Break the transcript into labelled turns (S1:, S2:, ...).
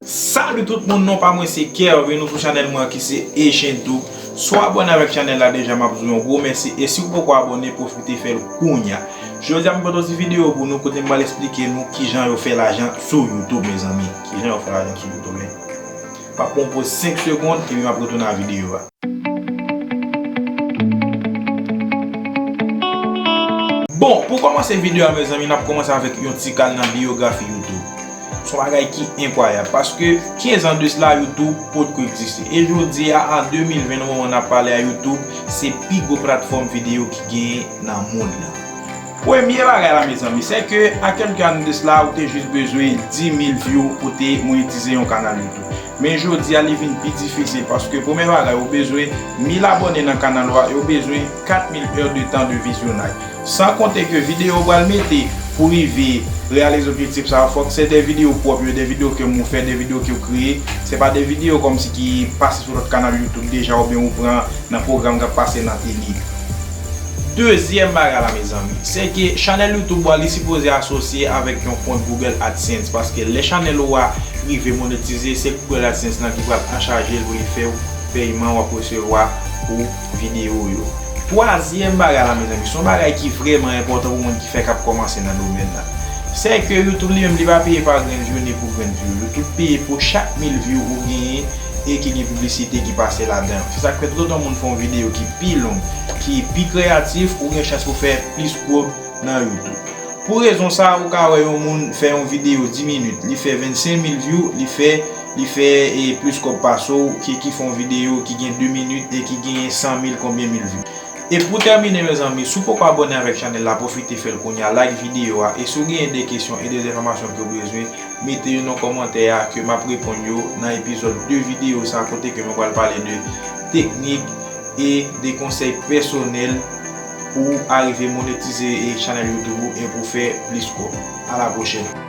S1: Salut tout moun non pa mwen se kervin nou sou chanel mwen ki se echenn tube si w abone avèk chanel la deja map di w yon gwo mèsi e si w poko abone profite fèl kounya jodi a mwen pote yon ti video pou nou kote m pral esplike nou kijan yo fè lajan sou youtube mezanmi kijan yo fè lajan sou youtube. M ap pran yon poz 5 segond epi m ap retounen a videyo a. Bon, pou kòmanse videyo a mezanmi n ap kòmanse avèk yon ti kal nan biyografi YouTube. S on bagay ki enkwayab paske 15 an de sla YouTube pot ko egziste. E jodi a an 2020 nan moman n ap pale a YouTube se pi gwo platfòm videyo ki genyen nan mond lan. Premye bagay la mezanmi se ke ak yon kanal de sla ou te jis bezwen 10000 view pou te monetize yon kanal youtube men jodi a li vin pi difisil paske premye bagay ou bezwen 1000 abòne nan kanal ou a e ou bezwen 4000 heure de tan de vizyonaj san konte ke videyo ou pral mete pou rive reyalize objektif sa yo fòk se de videyo pwòp yo de videyo ke mou fè de videyo ke ou kreye se pa de videyo kòmsi ki pase sou lòt kanal youtube deja oubyen ou pran nan pwogram kap pase nan tele. Dezyèm bagay la mezanmi, se ke chanèl YouTube ou a li sipoze asosye avèk yon kont Google AdSense paske lè chanèl ou a rive monetize se Google AdSense lan ki pral anchaje l pou li fèw peyman wap resevwa pou videyo w yo. Twazyèm bagay la mezanmi, se yon bagay ki vrèman enpòtan pou moun ki fèk ap kòmanse nan domèn lan. Se ke YouTube li menm li pa peye pa grenn vyou ni pou grenn vyou. YouTube peye pou chak mil vyou ou genyen e ki gen piblisite ki pase ladan l. Se sak fè tout otan moun fè yon videyo ki. pi long, ki pi kreyatif ou gen chans pou fè plis kob nan youtube. Pou rezon sa ou ka wè yon moun fè yon video 10 minit li fè 25 mil view li fè li fè plis kob pase w ke ki fè yon video ki gen 2 minit e ki genyen 100 mil konbyen mil view. E pou tèmine mezanmi si w poko abone avèk chanèl la pwofite fèl kounya like video a e si w genyen de kesyon e de enfòmasyon ke w bezwen Mete yo nan kòmantè a ke map reponn yo nan epizòd 2 videyo sa kote ke mwen pral pale de teknik e de konsèy pèsonèl pou ou arive monetize chanèl youtube ou e pou fè plis kòb. A la pwochèn!